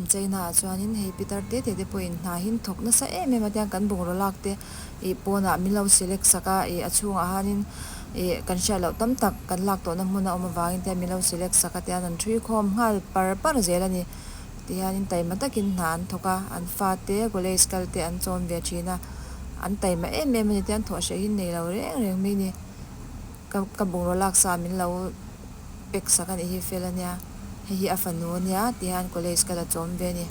China ah chuanin hei pitar te te te pawhin hna hi an thawk nasa em em a tiang kan bungraw lak te ih pawnah min lo select sak a ih a chhungah hianin ih kan hriat loh tam tak kan lak tawh na hmun a awm avangin tihian min lo select sak a tian an thui khawm nghal par par zel a ni tihianin taima takin hna an thawk a an fa te gulaze kal te an chawn ve thin a an taima em em a ni tian thawh hreh hi an nei lo reng reng mai a ni. Ka ka bungraw lak sa min lo pek sak a nih hi fel a nia, hei hi a fanu a nia ti hian college ka la tlawm ve a ni.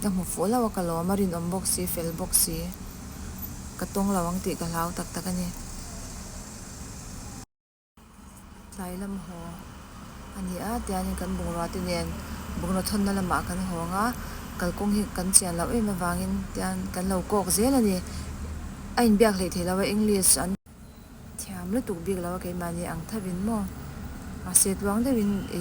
Ka hmu fuh hlauh a ka lawm a, rinawm bawk si, fel bawk si, ka tawng lo ang tih ka hlau tak tak a ni. Tlai lam haw a ni a, tianin kan bungraute nen bungraw thawnna lamah kan hawng a, kalkawng hi kan chian loh em avangin tian kan lo kawk zel a ni. A inbiak hlei theih lo a, English an. Thiam lutuk bik lo a, keimahni ang thavin maw? Mahse tluang deuhin i.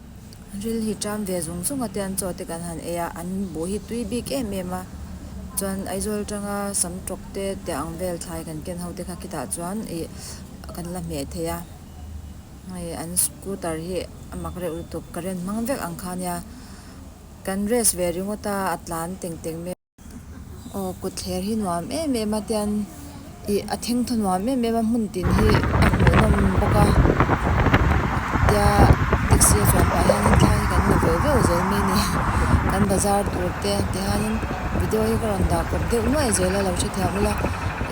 Ril hi ṭam ve zung zunga te an chaw te kan han ei a, an buh hi tui bik em em a, chuan Aizawl ṭanga sam ṭawk te tia ang vel thlai kan ken ho te kha khitah chuan ih kan la hmeh thei a, hei an scooter hi a mak reuh lutuk ka ren hmang vek ang kha nia, kan race ve ringawt a, a tlan teng teng mai. Aw kut thler hi nuam em em a tian ih a thengthaw nuam em em a hmun tin hi a hmuh nawm bawk a tia taxi a chuan pah hian thla hi kan la veo veo zel mai ni kan bazar tur te ti hian in video hi ka rawn dah pawp deuh nuai zel a lo hre thiam ula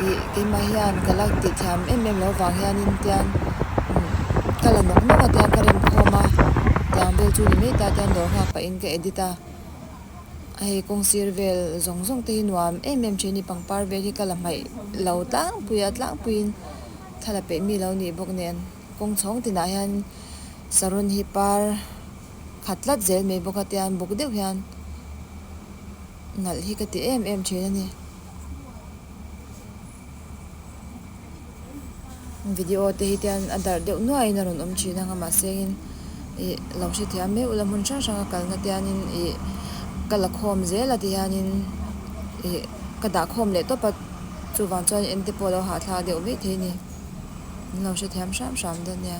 ih keimah hian ka la tih thiam em em lo vang hian in tian umm ka la nawk nawk a tian ka remkhawm a tiang vel chu ni mai ta tian dawr nghak pah in ka edit a. Hei kawng sir vel zawng zawng te hi nuam em em thin a ni, pangpar vel hi ka la hmaih lo tlangpui a, tlangpuiin thla la peih mi lo nih bawk nen kawng chhawng tinah hian Sarun hi par khat tlat zel mai bawk a, tian buk deuh hian nalh hi ka ti em em thin a ni. Video te hi te hian a darh deuh nuaih in a rawn awm thin ang a mah se in ih lo hre thei a meuh la hmun hrang hrang a kal na te hian in ih ka la khawm zel a ti hian in ih ka dah khawm leh tawp a chuvang chuan in ente pawh a lo hahthlak deuh mai thei a ni in lo hre thiam hram hram dawn nia.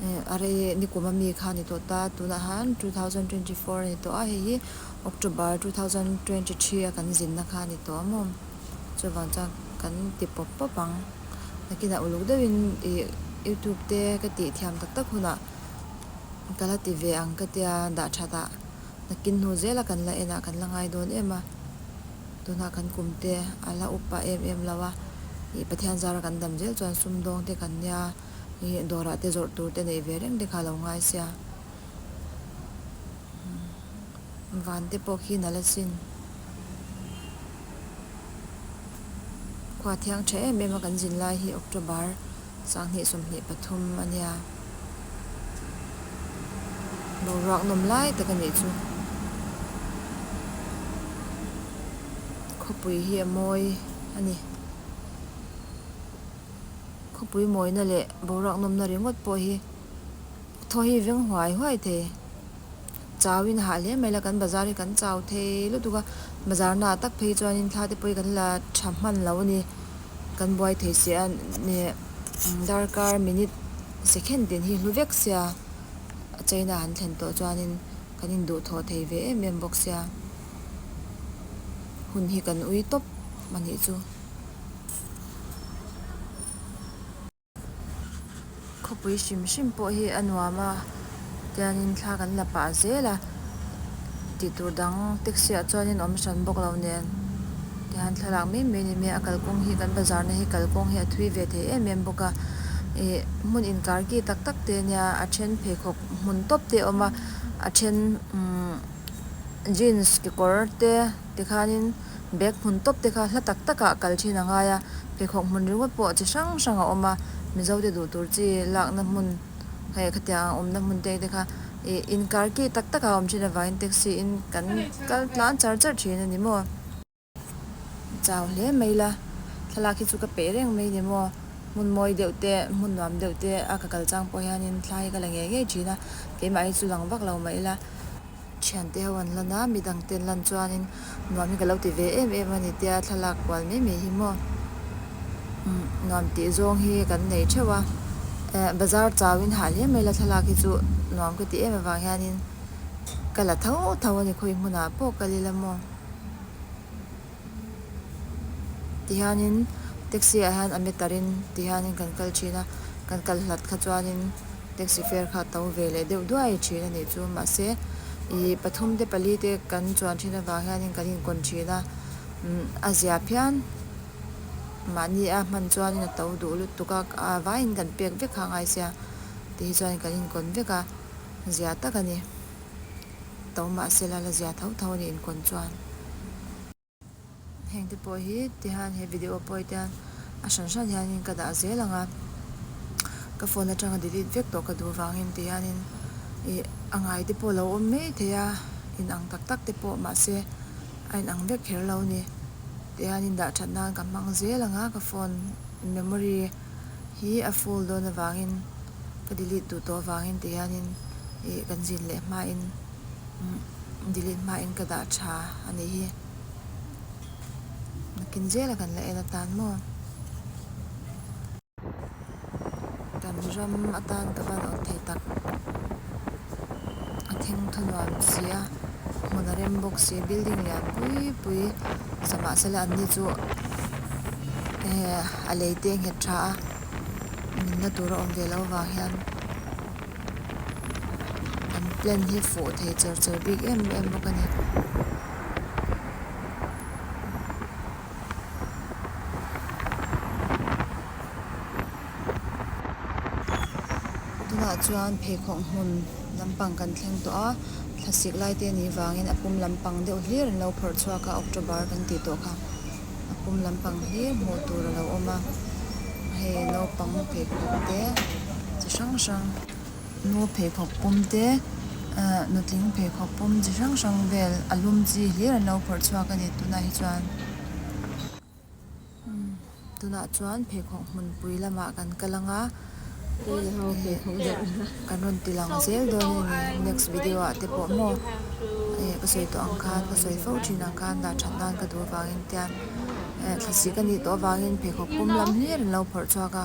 Are nikum a mi kha a ni tawh ta, tunah han two thousand twenty four a ni tawh a, hei hi October two thousand twenty three a kan zinna kha a ni tawh a maw? Chuvang chuan kan ti pawp pawp ang. Nakinah uluk deuhin ih youtube te ka tih thiam tak tak hunah ka la ti ve ang ka tia dah that a, nakin hnu zela kan la en a kan la ngai dawn em a, tunah kan kum te a la up a em em lo a, ih Pathian zara kan dam zel chuan sumdawng te kan nia. Ih dawrah te zawrh tur te neih ve reng te kha alo ngai sia. Umm van te pawh khi nala sin. Khua thiang tha em em a kan zin lai hi October sanghnih sawmhnih pathum a nia. Boruak nawm lai tak a nih chu. Khawpui hi a mawi a ni. Khawpui mawina leh boruak nawmna ringawt pawh hi thaw hi veng huai huai thei. Chauin a hah hle mai la, kan bazar hi kan chau thei lutuk a, bazarna ah tak phei chuan thla te pawhin kan la tha hman lo a ni, kan buai thei si a ni. Darkar minute, second ten hi hlu vek sia a chaina han thlen tawh chuanin kan in duh thaw thei ve em em bawk sia, hun hi kan ui tawp a nih chu. Khawpui hrim hrim pawh hi a nuam a, tianin thla kan la pah zel a tih tur dang taxi ah chuanin awm hran bawk lo nen tihan thlalak mai mai a ni mai a kalkawng hi kan bazar na hi kalkawng hi a thui ve thei em em bawk a ih hmun inkar ki tak tak te a nia a then pheikhawk hmun tawp te a awm a a then umm jeans kekawr te-- Tikhanin bag hmun tawp te kha hla tak takah kal thin a ngai a, pheikhawk hmun ringawt pawh chi hrang hrang a awm a, Mizote duh tur chi lakna hmun, hei khatiang ang awmna hmun te te kha ih inkar ki tak tak a awm thin avangin taxi in kan kal tlan char char thin a ni maw. Ka chau hle mai la, thlalak hi chu ka peih reng mai ni maw, hmun mawi deuh te, hmun nuam deuh te a ka kal chang pawh hianin thlai hi ka la ngei ngei thin a, keimah hi chu lang vak lo mai la. Thiante ho an lan a, mi dangte an lan chuanin nuam hi ka lo ti ve em em a ni tia thlalak kual mai mai hi maw? Umm, nuam tih zawng hi kan nei theuh a, eh, bazar chauin hah hliam mai la thlalak hi chu nuam ka ti em avang hianin ka la tho tho a ni khawi hmunah pawh ka lil a maw? Tihianin taxi ah hian a met tar in tihianin kan kal thin a, kan kal hlat kha chuanin taxi fare kha a to ve leh deuh duai thin a nih chu. Mahse ih pathum te pali te kan chuan thin avang hianin kan in kawn thin a, umm a zia phian mahni a hman chuan a to duh lutuk a, a vai in kan pek vek kha a ngai sia tih hi chuan kan in kawn vek a, zia tak a ni. tho mah se la la zia tho tho a ni in kawn chuan hengte pawh hi ti hian he video pawi te hian a hran hran hian in ka dah zel ang a ka phone atanga delete vek tawh ka duh vang em ti hian in ih a ngai te pawh lo awm mai thei a in ang tak tak te pawh mah se a in ang vek kher lo a ni ti hian in dah that nan ka hmang zel ang a ka phone memory hi a ful dawn avangin ka delete duh tawh avangin ti hianin ih kan zin leh hmain delete hmain ka dah tha a nih hi nakin zela kan la en atan maw kan ram atan ka va nawt thei tak. a thing thaw nuam si a hmun a rem bawk si building lian pui pui zah mah se lah an ni chu ehh a lei te a nghet tha a min na tur a awm ve lo vang hian an plan hi fuh thei char char bik em em bawk a ni. Tunah chuan pheikhawk hmun lampang kan thleng tawh a, thlasik lai te nih vangin a pum lampang deuh hlir an lo phawrh chhuak a, October kan tih tawh kha a pum lampang hlir hmuh tur a lo awm a, hei naupang pheikhawk te chi hrang hrang, nu pheikhawk pum te ahh nutling pheikhawk pum chi hrang hrang vel a lum chi hlir an lo phawrh chhuak a ni tunah hi chuan. Tunah chuan pheikhawk hmunpui lamah kan kal anga kan rawn ti lang zel dawn a ni a, next video ah te pawh maw ih ka sawi tawh ang khan ka sawi fo thin ang khan dah that nan ka duh avangin tian eh thlasih ka nih tawh avangin pheikhawk pum lam hi rin lo phawrh chhuak a,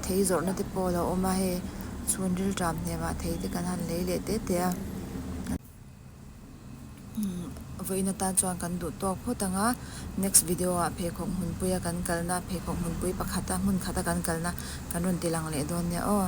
thei zawrhna te pawh a lo awm a hei chhun rilram hnem ah thei te kan han lei leh tete a. Vawiin atan chuan kan duh tawk phawt ang a, next video ah pheikhawk hmunpui a kan kal na, pheikhawk hmunpui pakhat a hmunkhat a kan kal na kan rawn ti lang leh dawn nia aw.